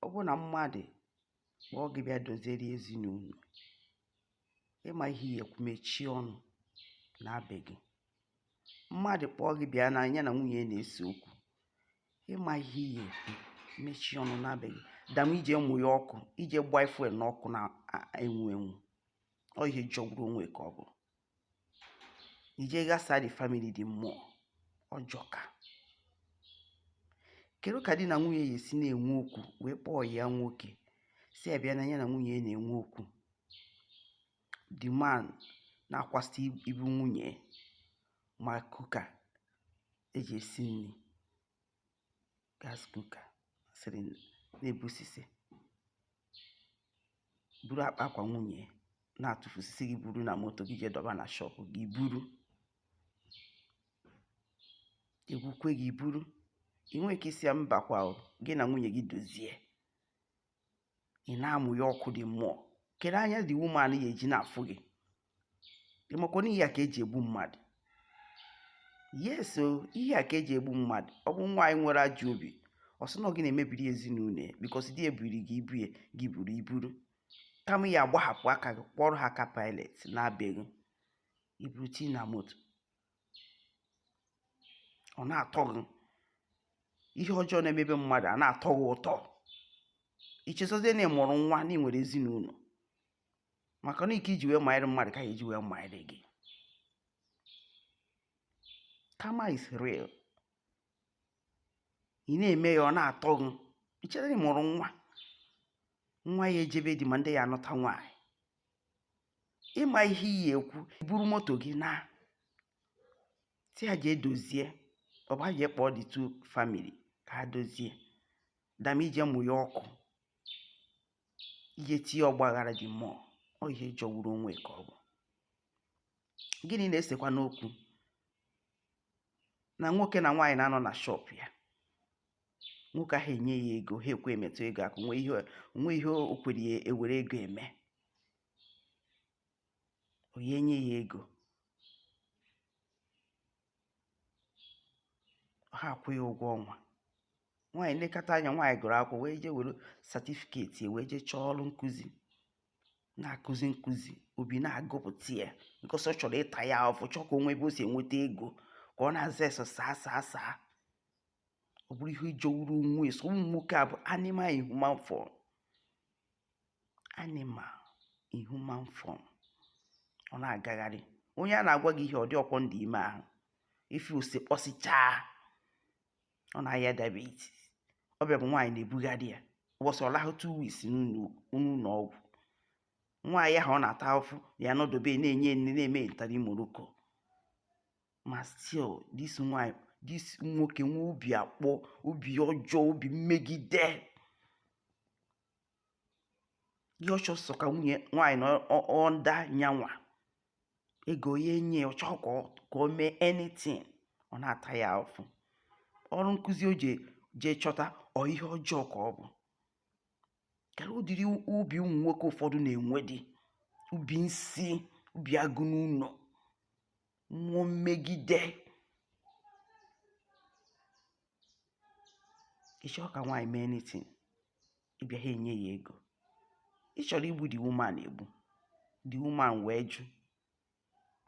ọ bụrụ na mmadụ kpọọ gị bịa doziere ya ezinụlọ ị ma ihe ị ya-ekwu mechie ọnụ naa be gị mmadụ kpọọ gị bịa na ya na nwunye ya na-ese okwu ị ma ihe ị ya-ekwu mechie ọnụ naa be gị than ije mụ ya ọkụ ije gbaa fuel n'ọkụ na-enwu enwu ọ ihe jọgburu onwe ka ọ bụ ije ghasa the family the more ọ jọka kedu ka di na nwunye ya esi na-enwe okwu wee kpọọ ya nwoke sị ya bịa na ya na nwunye ya na-enwe okwu the man na-akwasị ibu nwunye ma cooker e ji esi nri gas cooker sịrị na-ebusisi buru akpa akwa nwunye na-atụfusisi gị buru na moto gị jee dọba na shop gị buru egwukwe gị buru i nwe ike ịsị ya mbakwa gị na nwunye gị dozie ị na-amụ ya ọkụ the more kedu anya the woman ya-eji na-afụ gị ị makwa na ihe a ka e ji egbu mmadụ yes o ihe a ka e ji egbu mmadụ ọ bụ nwaanyị nwere ajọ obi ọ sị na gị na-emebiri ezinụlọ ya because di ebiri gị ibu ya gị buru iburu kama ị ya-agbahapụ aka gị kwọrọ aka Pilate naa be gị i buru tii na moto ọ na-atọ gị ihe ọjọọ na-eme be mmadụ a na-atọ gị ụtọ i chezọzie na ị mụrụ nwa na ị nwere ezinụlọ maka na iko i ji wee manyere mmadụ ka a ya-eji wee manyere gị karma is real ị na-eme ya ọ na-atọ gị i chere na ị mụrụ nwa nwa ya-eje be di ma ndị ya-anụta nwaanyị ị ma ihe ị ya-ekwu i buru moto gị naa sị ha jee dozie ọ bụ ha jee kpọọ the two family ka ha dozie than ije mụ ya ọkụ ije tinye ọgbaghara the more ọ ihe jọgburu onwe ka ọ bụ gịnị na-esekwanụ okwu na nwoke na nwaanyị na-anọ na shop ya nwoke ahụ enye ya ego ha ekwe emetụ ego aka o nwe ihe o kwere ya ewere ego eme onye enye ya ego ha akwụ ya ụgwọ ọnwa nwaanyị lekata anya nwaanyị gụrụ akwụkwọ wee jee were certificate wee jee chọọ ọrụ nkụzi na-akụzi nkụzi obi na-agụpụta ya because ọ chọrọ ịta ya afụfụ ọ chọọ ka o nwee ebe o si enweta ego ka ọ na-aza yes sir sir sir ọ bụrụ ihe jọgburu onwe so ụmụ nwoke a bụ animal in human form animal in human form ọ na-agagharị onye a na-agwa gị ihe ọ dị ọkwọ ndị ime ahụ ife ose kpọsichaa ọ na-aya diabetes ọ bịa bụ nwaanyị na-ebugharị ya ụbọchị ọ lahụ two weeks n'ụlọ ọgwụ nwaanyị ahụ ọ na-ata afụ ya nọdobe na-enye nne na-eme ntari moroko ma still this nwaanyị this nwoke nwe obi akpọ obi ọjọọ obi mmegide ihe ọ chọ sọ ka nwunye nwaanyị nọ under nya nwa ego ya enye ya ọ chọọ ka o mee anything ọ na-ata ya afụfụ ọrụ nkụzi o jee chọta ọ ihe ọjọọ ka ọ bụ kedu ụdịrị obi ụmụ nwoke ụfọdụ na-enwedị obi nsi obi agụ n'ụlọ mmụọ mmegide ị chọọ ka nwaanyị mee anything ị bịa ha enye ya ego ị chọrọ igbu the woman egbu the woman wee jụ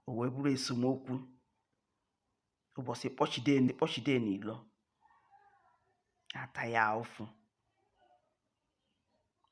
o wee bụrụ esemokwu ụbọchị kpọchide kpọchide n'ilo ata ya afụfụ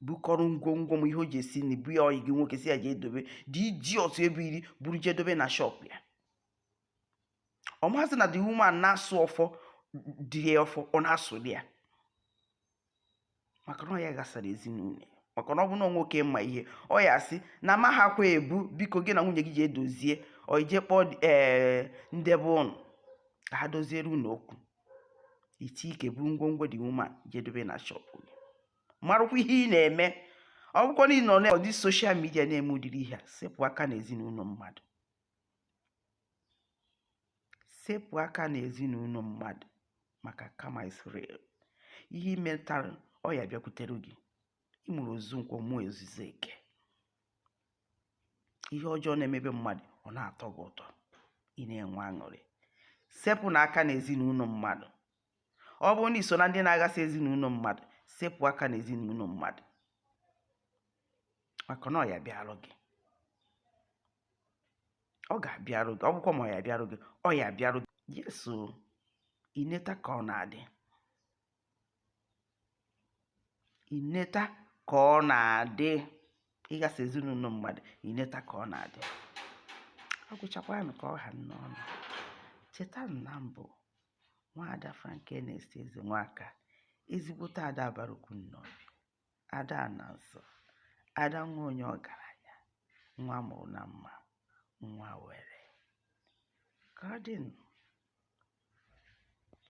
bukọrọ ngwongwo m ihe o ji esi nri bunye ọyị gị nwoke sị ya jee dobe dị iji ọtụ ebe iri buru jee dobe na shop ya ọ maazị na the woman na-asụ ọfọ dị ya ọfọ ọ na-asụ di ya maka na ọ ya gasara ezinụlọ ya maka na ọ bụ na nwoke ma ihe ọ ya asị na ma ha kwa ebu biko gị na nwunye gị jee dozie or ị jee kpọọ ee ndị be unu ka ha doziere unu okwu iti ike buru ngwongwo the woman jee dobe na shop gị marakwa ihe ị na-eme ọ bụkwa na ị nọ na ọdị social media na-eme ụdịrị ihe a sepụ aka na ezinụlọ mmadụ sepụ aka na ezinụlọ mmadụ maka karma is real ihe i metara ọ ya bịakwutere gị ị mụrụ ozu nkwọ mụọ ozizi eke ihe ọjọọ na-emebe mmadụ ọ na-atọ gị ụtọ ị na-enwe aṅụrị sepụ na aka na ezinụlọ mmadụ ọ bụrụ na i so na ndị na-aghasa ezinụlọ mmadụ sepụ aka na ezinụlọ mmadụ maka na ọ ya bịarụ gị ọ ga-abịarụ gị ọ bụkwa ma ọ ya bịarụ gị ọ ya bịarụ gị yes o i neta ka ọ na-adị i neta ka ọ na-adị ịgasị ezinụlọ mmadụ i neta ka ọ na-adị ọ gwụchakwanụ ka ọ ha n'ọnụ cheta na m bụ nwaada Frankness Ezenwaka ezigbote ada abarukwu Nnobi ada ana nsọ ada nwa onye ọgaranya nwa mụrụ na mma nwa were ka ọ dịnụ